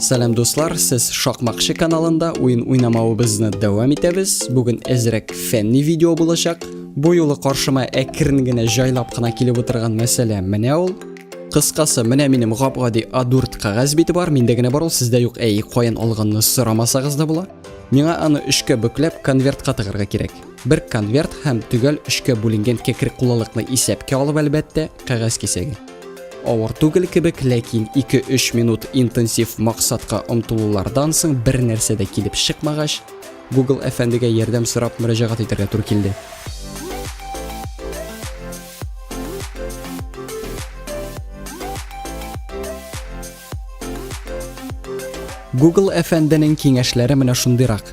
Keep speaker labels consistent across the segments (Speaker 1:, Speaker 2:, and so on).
Speaker 1: Сәлам дуслар, сез Шакмакчы каналында уен уйнамавыбызны дәвам итәбез. Бүген әзрәк фәнни видео булачак. Бу юлы каршыма әкрен генә җайлап кына килеп утырган мәсьәлә менә ул. Кыскасы, менә минем гап-гади A4 кагаз бите бар, миндә генә бар ул, сездә юк. Әй, каян алганны сорамасагыз да була. Миңа аны өчкә бөкләп, конвертка тыгырга кирәк. Бер конверт һәм төгәл өчкә бүленгән кәкре кулылыкны исәпкә алып, әлбәттә, кәгазь кисәге. Авыр түгел кебек, ләкин 2-3 минут интенсив максатка омтылулардан соң бер нәрсә дә килеп чыкмагач, Google әфәндегә ярдәм сорап мөрәҗәгать итәргә туры килде. Google әфәнденең киңәшләре менә шундыйрак.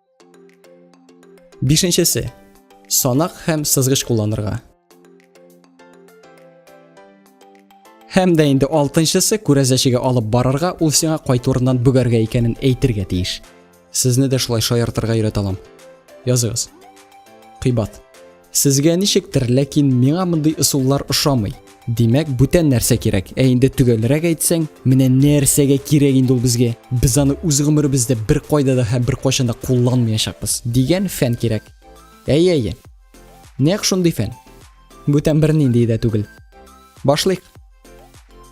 Speaker 1: Бишенчесе. Санак һәм сызгыч кулланырга. Һәм дә инде алтынчысы күрәзәчегә алып барырга, ул сиңа кайт урыннан бүгәргә икәнен әйтергә тиеш. Сезне дә шулай шаяртырга өйрәтә алам. Языгыз. Кыйбат. Сезгә ничектер, ләкин миңа мондый ысуллар ошамый. Димәк, бүтән нәрсә кирәк. Ә инде төгәлрәк әйтсәң, менә нәрсәгә кирәк инде ул безгә? Без аны үз гомеребездә бер кайда да һәм бер кайчан да кулланмаячакбыз дигән фән кирәк. Әйе, әйе. Нәкъ шундый фән. Бүтән бернинди дә түгел. Башлыйк.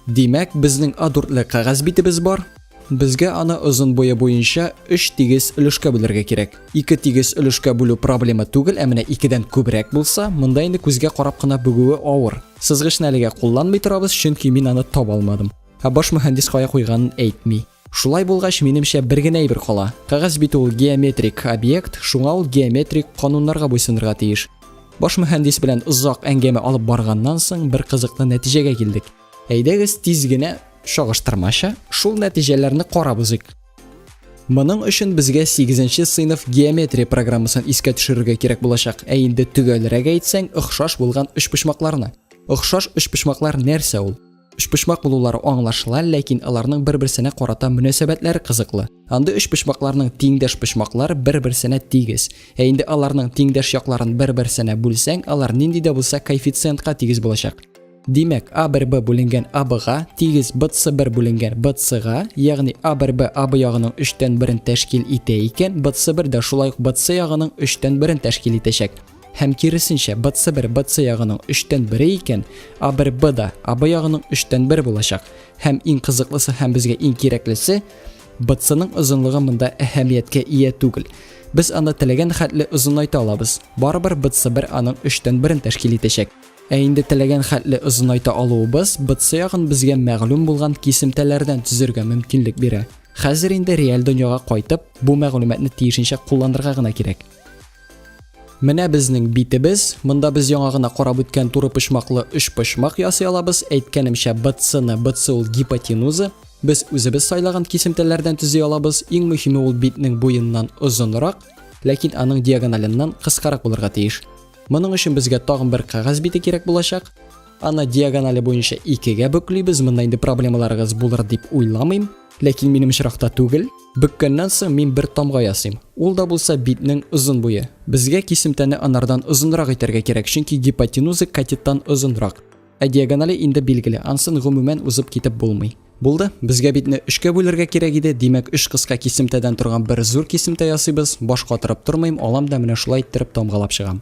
Speaker 1: Димәк, безнең A4-ле кәгазь битебез бар. Безгә аны озын буе буенча 3 тигез өлешкә бүлергә кирәк. 2 тигез өлешкә бүлү проблема түгел, ә менә 2-дән күбрәк булса, монда инде күзгә карап кына бүгүе авыр. Сызгычны әлегә кулланмый торабыз, чөнки мин аны таба алмадым. Ә баш мөхәндис кая куйганын әйтми. Шулай булгач, минемчә, бер генә әйбер кала. Кәгазь бит ул геометрик объект, шуңа ул геометрик кануннарга буйсынырга тиеш. Баш мөхәндис белән озак әңгәмә алып барганнан соң бер кызыклы нәтиҗәгә килдек. Әйдәгез тиз генә чагыштырмача шул нәтиҗәләрне карап узыйк. Моның өчен безгә 8 сыйныф геометрия программасын искә төшерергә кирәк булачак. Ә инде төгәлрәк әйтсәң, охшаш булган өчпочмакларны. Охшаш өчпочмаклар нәрсә ул? Өчпочмак булулары аңлашыла, ләкин аларның бер-берсенә карата мөнәсәбәтләре кызыклы. Андый өчпочмакларның тиңдәш почмаклары бер-берсенә тигез. Ә инде аларның тиңдәш якларын бер-берсенә бүлсәң, алар нинди дә булса коэффициентка тигез булачак. Димәк, А1Б бүленгән АБга тигез БЦ1 бүленгән БЦга, ягъни А1Б АБ ягының 3 тән 1-ен тәшкил итә икән, БЦ1 дә шулай ук БЦ ягының 3 тән 1-ен тәшкил итәчәк. Һәм киресенчә, БЦ бер БЦ ягының өчтән бере икән, А бер Б да АБ ягының өчтән бер булачак. Һәм иң кызыклысы һәм безгә иң кирәклесе, БЦның озынлыгы монда әһәмияткә ия түгел. Без аны теләгән хәтле озынайта алабыз. Барыбер БЦ бер аның өчтән берен тәшкил итәчәк. Ә инде теләгән хәтле озынайта алуыбыз БЦ ягын безгә мәгълүм булган кисемтәләрдән төзергә мөмкинлек бирә. Хәзер инде реаль дөньяга кайтып, бу мәгълүматны тиешенчә кулланырга гына кирәк. Менә безнең битебез. Монда без яңа гына карап үткән туры почмаклы өч почмак ясый алабыз. Әйткәнемчә, БЦ-ны, БЦ ул гипотенуза, без үзебез сайлаган кисемтәләрдән төзи алабыз. Иң мөһиме ул битнең буеннан озынрак, ләкин аның диагоналыннан кыскарак булырга тиеш. Моның өчен безгә тагын бер кәгазь бите кирәк булачак. Аны диагонали буенча икегә бөклибез. Монда инде проблемаларыгыз булыр дип уйламыйм. Ләкин минем очракта түгел. Бөккәннән соң мин бер тамга ясыйм. Ул да булса битнең озын буе. Безгә кисемтәне анардан озынрак итәргә кирәк, чөнки гипотенуза катеттан озынрак. Ә диагонале инде билгеле, ансын гомумән узып китеп булмый. Булды, безгә битне өчкә бүлергә кирәк иде, димәк, өч кыска кисемтәдән торган бер зур кисемтә ясыйбыз, баш катырып тормыйм, алам да менә шулай иттереп тамгалап чыгам.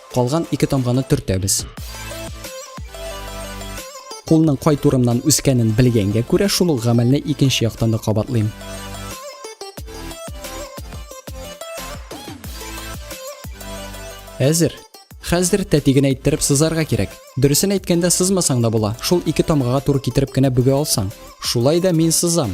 Speaker 1: Калган ике тамганы төртәбез. Кулның кай турымнан үскәнен белгәнгә күрә шул ук гамәлне икенче яктан да кабатлыйм. Әзер. Хәзер тәтиген әйттереп сызарга кирәк. Дөресен әйткәндә сызмасаң да була. Шул ике тамгага туры китереп кенә бүгә алсаң. Шулай да мин сызам.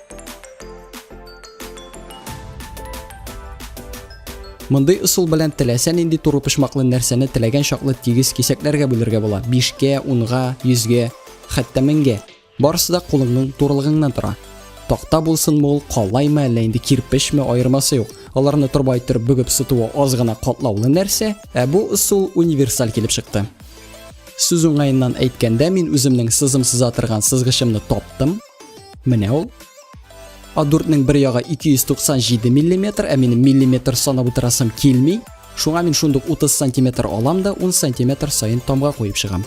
Speaker 1: Мондый ысул белән теләсә нинди туры почмаклы нәрсәне теләгән чаклы тигез кисәкләргә бүлергә була. 5-кә, 10-га, 100-гә, хәтта 1000-гә. Барысы да кулыңның турылыгыңнан тора. Такта булсын мул, калаймы, әллә инде кирпечме, аермасы юк. Аларны торба иттереп бүгеп сытуы аз гына катлаулы нәрсә, ә бу ысул универсаль килеп чыкты. Сүз уңаеннан әйткәндә, мин үземнең сызым сыза торган сызгычымны таптым, Менә ул. А4-нең бер ягы 297 мм, ә минем миллиметр санап утырасым килми. Шуңа мин шундук 30 сантиметр алам да 10 сантиметр сайын тамга куеп чыгам.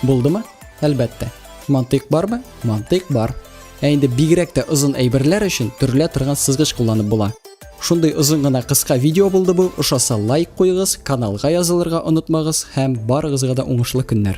Speaker 1: Булдымы? Әлбәттә. Мантыйк бармы? Мантыйк бар. Ә инде бигрәк тә озын әйберләр өчен төрлә торган сызгыч кулланып була. Шундый озын гына кыска видео булды бу. Ошаса лайк куегыз, каналга язылырга онытмагыз һәм барыгызга да уңышлы көннәр.